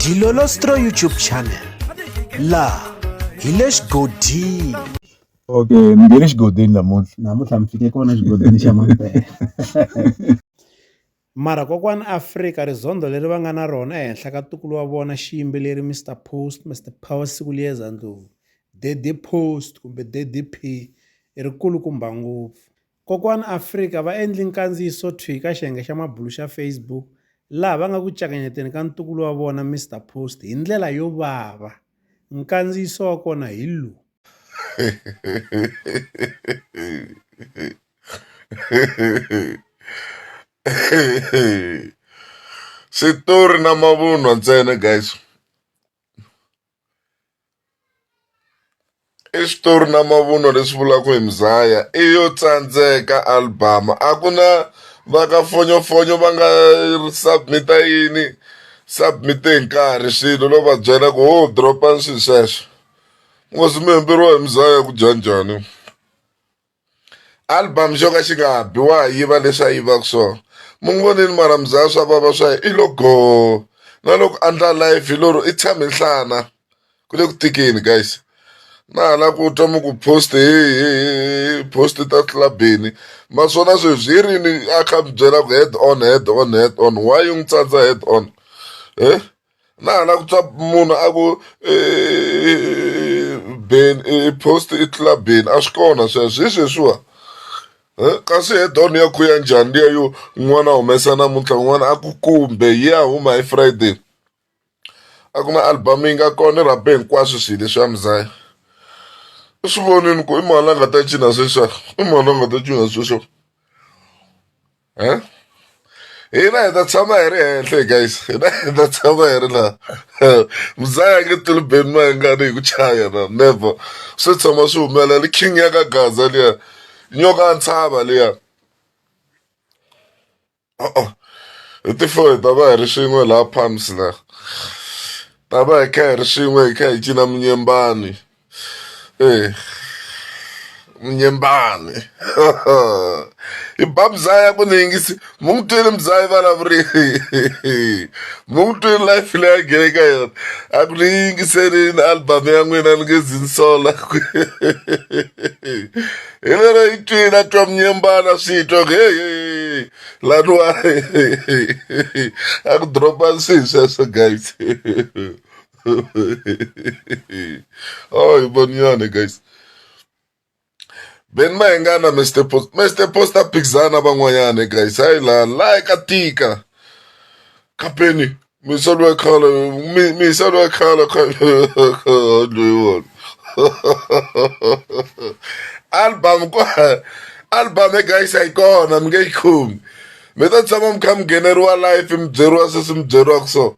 Dilolostro YouTube channel la hi le xigodini okay ni nge le xigodini namuntlha namuntlha mi fike kona xigodini xa mampela mara kokwana afrika rizondho leri va nga na rona ehenhla ka tukulu wa vona xiyimbeleri mr post mr power siku liyeza ndlovu daddy post kumbe daddy p i rikulukumba ngopfu Kokwani Afrika va endli nkandziyiso thwi ka xiyenge xa mabulu xa Facebook laha va nga ku cakanyeteni ka ntukulu wa vona Mister Post hi ndlela yo vava. Nkandziyiso wa kona hi lowu. Switori na mavunwa ntsena guys. I switori na mavunwa leswi vulaka hi Mzaya i yo tsandzeka album a ku na va ka fonyofonyo va nga submit-a yini submit hi nkarhi swilo no va byela ku ho drop-ani swilo sweswo hi Mzaya ku dya njhani. album xo ka xi nga bi wa ha yiva leswi a yivaka swona mi n'wi vonile maramuzaya swa vava swa i lo go na loko andla life hi loro i tshame nhlana ku le ku tikeni guys na hala ku twa mi ku post post ta clubini naswona sweswi hi rini a kha mi byela ku head on head on head on why yi n'wi tsandza head on e na ha la ku twa munhu a ku ben post i tlula ben a swi kona sweswo hi sweswiwa kasi he don ya khuya njhani liya yo n'wana humesa namuntlha n'wana a ku kumbe yi ya huma hi friday a ku na album yi nga kona i rhabe hinkwaswo swilo leswi ya muzaya u swi vonini ku i mani la nga ta cina sweswa i mani la nga ta cina sweswa Huh? hina hi ta tshama hi ri henhla hi guys hina hi ta tshama hi ri laha muzaya nge tilubeni ma hingani hi ku chaya na never swi tshama swi humelela king ya ka gaza liya nyoka ya ntshava liya uh-uh. hi tifo hi ta va hi ri swin'we laha palms laha ta va hi kha hi ri swin'we hi kha hi cina munyembani Eh, munyembani i ba mzaya ku ni yingisi mu n'wi twile mzaya vulavurili mu n'wi twile life leyi a nghene ka yona a ku ni yingiselini album ya n'wina ni nge zinsola hi lero yi twile a twa munyembana swi twa ku hehe laniwa a ku dropa swihi sweswo guys Ay, boniane guys ben maengana mr post mr post a phikizana van'wanyana guys hayi la la ka tika kapeni misolo ya khala mi- misolo ya khala loyiwona album ko album e guys a yi kona mi nge yi khumi mi ta tshama mi kha mi ngheneriwa life mi byeriwa sweswi mi byeriwaka so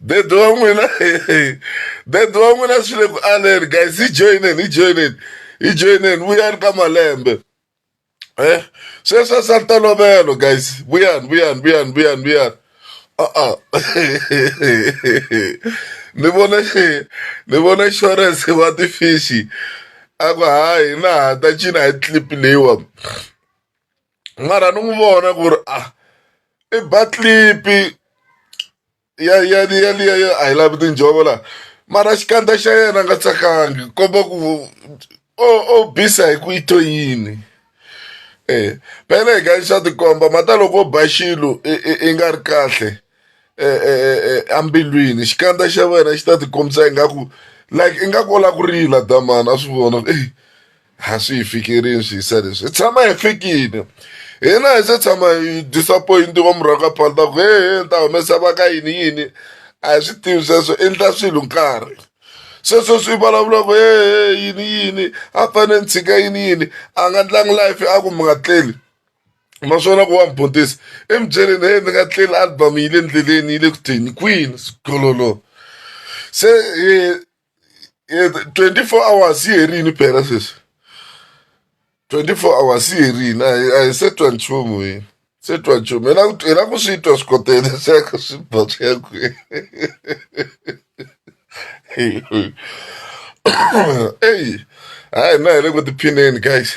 dede wa n'wina dede wa n'wina swi le ku aleni guys hi joyineni hi joyineni hi joyineni vuyani ka malembe e sweswi swa ntolovelo guys vuyani vuyani vuyani vuyani vuyani a-a ni vona ni vona insurance wa ti-fish a ku hayi na ha ta cina hi clip leyiwani mara ni n'wi vona ku ri a i ba tlipi ya ya ya liya ya a hi lavi tinjhovo la mara xikandza xa yena a nga tsakangi komba ku o o bisa hi ku i to yini e phela hi ka xa tikomba mhata loko o ba xilo i i i nga ri kahle embilwini xikandza xa wena xi ta ti kombisa ingaku like ingaku u lava ku rila damani a swi vona ku eyi. a swi hi fikirini swi yisa leswi hi tshama hi fikile hina hi se tshama hi disappointiwa murhaka ka phalta ku he he ni ta humesa va ka yini yini a hi swi tivi sweswo endla swilo nkarhi sweswo swi vulavula ku he he yini yini a fanele ni tshika yini yini a nga ndlangi life a ku mi nga tleli naswona ku wa mi butisa emubyeleni he ni nga tleli album yi le ndleleni yi le ku teni kwini sikololo se Eh, 24 hours yi herini phela sweswi 24 hours yi herini a hi- a hi se twa nchumu hi se twa nchumu hina ku- hina ku swi twa swikotela xaka swi ba swi ya kwihi eyi hayi na hi le ku tiphineni guys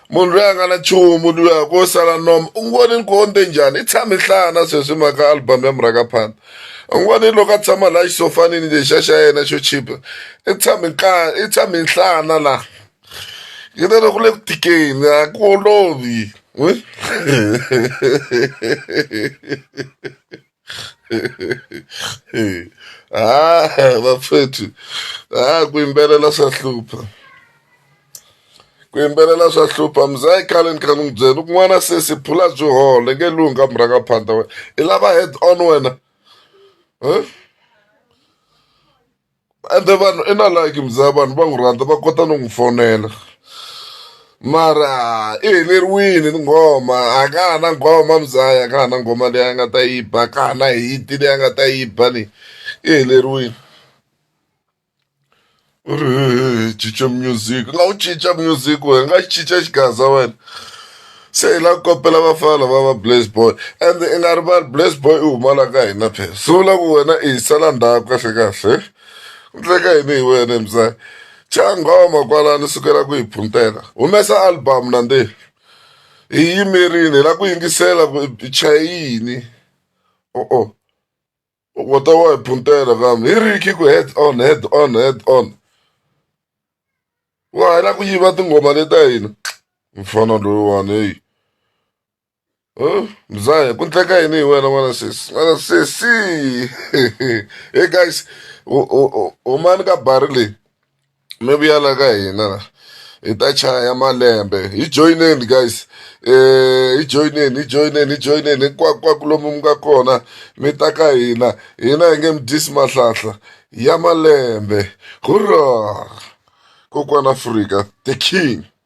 Munhu loyi a nga na nchumu luya ko sala noma u ngo ni nkonde njhani i tshami hlana sweswi mhaka album ya murhakaphanda u ngo ni loko a tshama laha xisofanini lexiya xa yena xo chipa i tshami nhlana i tshami nhlana laha yi ta loko le ku tikeni a ku olovi ha vapfethu ha ku yimbelela swa hlupha ku yimbelela swa hlupha mzayi khale ni kha ni n'wi byela loko n'wana sesi phula byi hole nge lunga murhanga phanda wena i lava head on wena huh? ende vanhu i na like mzaya vanhu va n'wi rhandza va kota no n'wi fonela mara i heleriwini ni nghoma a ka ha na nghoma mzaya a ka ha na nghoma leyi a nga ta yi ba ka ha na hiti leyi a nga ta yi ba leyi i heleriwini u ri hehe cinca music u nga wu cinca music wena u nga yi cinca xigaza wena se hi lava ku kopela vafana lava va blaze boy and i nga rivali blaze boy i huma la ka hina phela swi vula ku wena i hi sala ndhaku kahle kahle ku tleka yini hi wena emzaya cha nghoma kwalani sukela ku hi phuntela humesa album nandi hi yimerini hi lava ku yingisela ku i chaye yini o-o wata wa puntela kambe hi ri khiko head on head on head on wa ha la ku yiva tinghoma leta hina mfana loyiwani heyi Huh? mzahe ku ndleka yini hi wena n'wana sesi n'wana sesi hey guys u- u- u- humani ka bari leyi mi vuya la ka hina la hi ta chaya malembe hi joyineni guys um hi joyineni hi joyineni hi joyineni hinkwakwako lomu mi nga kona mi ta ka hina hina hi nge mi dyisi mahlahla ya malembe hurra kokwana afrika the king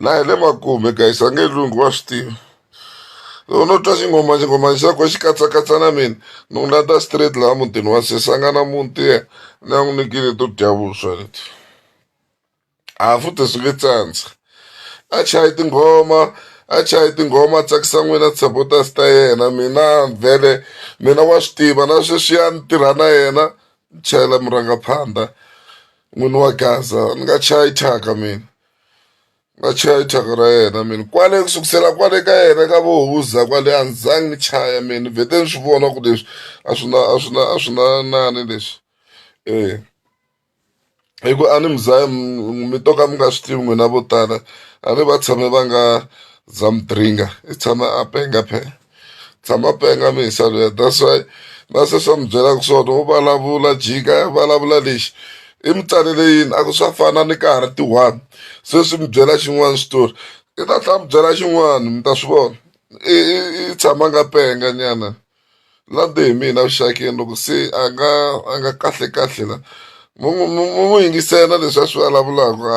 na hi le makume guys a nge lunghi wa swi tiva loko no twa xingoma xingoma xa ko xi katsakatsa na mina ni n'wi landza straight laha mutini wa sesi a nga na muti ye ni a n'wi nikile to dya vuswa leti a futhi swi nge tsandza a chayi tinghoma a chayi tinghoma a tsakisa n'wina supporters ta yena mina vhele mina wa swi tiva na sweswiya ni tirha na yena ni chayela murhangaphandha n'wini wa gaza ni nga chayi thyaka mina nga chaya thyaka ra yena mina kwale ku sukusela kwale ka yena ka vohuza kwale a ni zangi ni chaya mina vhete ni swi vona ku leswi a swi na a swi na a swi na nani leswi eh hi ku a ni mi za mi mi to ka mi nga swi tivi n'wina vo tala a ni va tshame va nga za mi dringa i tshama a penga phela. tshama penga misa luya that's why na se swa mi byelaka swona wo vulavula jika ya vulavula lexi i mi tsalele yini a ku swa fana ni ka ha ri ti-one se swi mi byela xin'wana xitori i ta tlha mi byela xin'wana mi ta swi vona i i- i tshama nga penga nyana lande hi mina vuxakeni loko se a nga a nga kahle kahle la mu mu- mu- mu- mu yingisela leswi a swi vulavulaka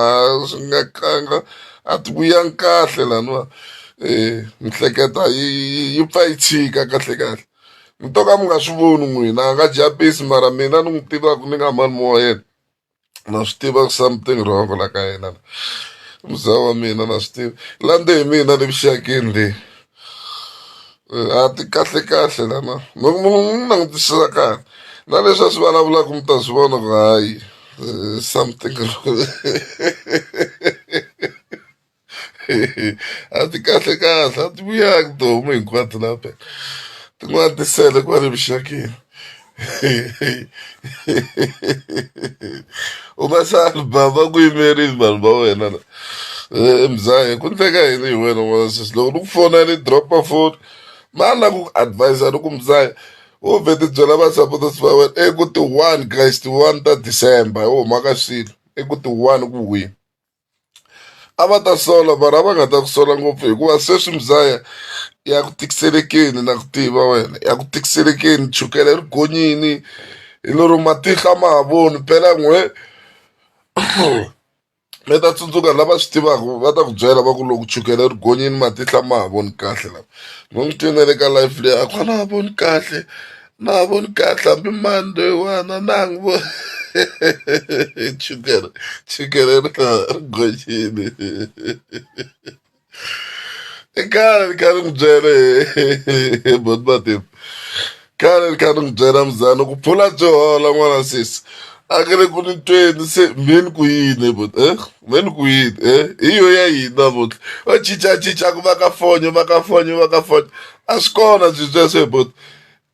a swi nga kanga a ti vuyangi kahle laniwa um mihleketa yi yi- yi pfa yi tshika kahle kahle mi to ka mi nga swi voni n'wina a nga jabisi mara mina ni n'wi tivaka ni nga mani wa yena na swi tiva ku something wrong la ka yena la muzaa wa mina na swi tiva lande hi mina le vuxakeni leyi A ti kahle kahle lana loko munhu u n'wi langutisisa kahle na leswi a swi vulavulaka mi ta swi vona ku hayi eh, something a ti kahle kahle a ti vuyaki tihomu hinkwato laha phela tin'wana ti sele kwale vuxakeni u nga se album va ku yimerile vanhu va wena na Eh, mzahe ku ndleka yini hi wena n'wana sesi loko ni ku fona ni dropa foni ma na ku advisa ni ku mzahe u vhe ti byela va supporters va wena i ku ti one guys ti one ta december hi huma ka swilo i ku ti one ku wini a va ta sola mara a va nga ta ku sola ngopfu hikuva sweswi muzaya ya ku tikiselekeni na ku tiva wena ya ku tikiselekeni chukele ri gonyini hi lero matihlo a ma ha voni phela n'we mi ta tsundzuka lava swi tivaka va ta ku byela va ku loko chukele ri gonyini matihlo a ma ha voni kahle lama mi n'wi twini na le ka life leyi a ku a na ha voni kahle Na ha voni kahle hambi mani loyiwana na ha n'wi voni chukele chukele ri nga ha ri gonyini i khale ni kha ni n'wi byele he bot matimba khale ni kha ni n'wi byela muzana ku phula byi hola n'wana sesi a nge le ku ni tweni se me ni ku yini he bot eh me ni ku yini eh hi yo ya yini namuntlha va cincacinca ku va ka fonyo va ka fonyo va ka fonyo a swi kona byi byeswo he bot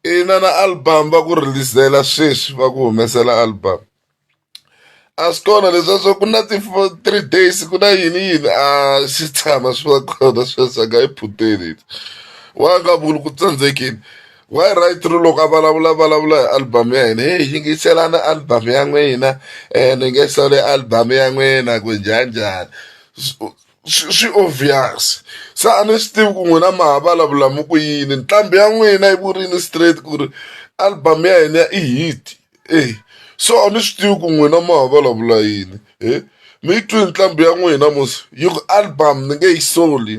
ina na album va ku rilisela sweswi va ku humesela album a swi kona leswiya swa ku na ti three days ku na yini yini a swi tshama swi va kona sweswi a nga yi phuteli wa nga vuli ku tsandzekile why right ri loko a vulavula vulavula hi album ya hina heyi yingiselani album ya n'wina um ni nge sole album ya n'wina ku njhani njhani swi swi obvious se a ni swi tivi ku n'wina ma ha vulavula mi ku yini nqambi ya n'wina yi vurile straight ku ri album ya hina i hit e so a ni swi tivi ku n'wina ma ha vulavula yini he mi yi twini nqambi ya n'wina mos yi ku album ni nge yi soli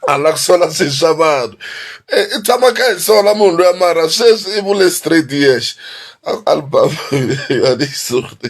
a la ku sola swi swa vanhu i tshama kha hi sola munhu luya mara sweswi i vule straight yex album ya ni yi soli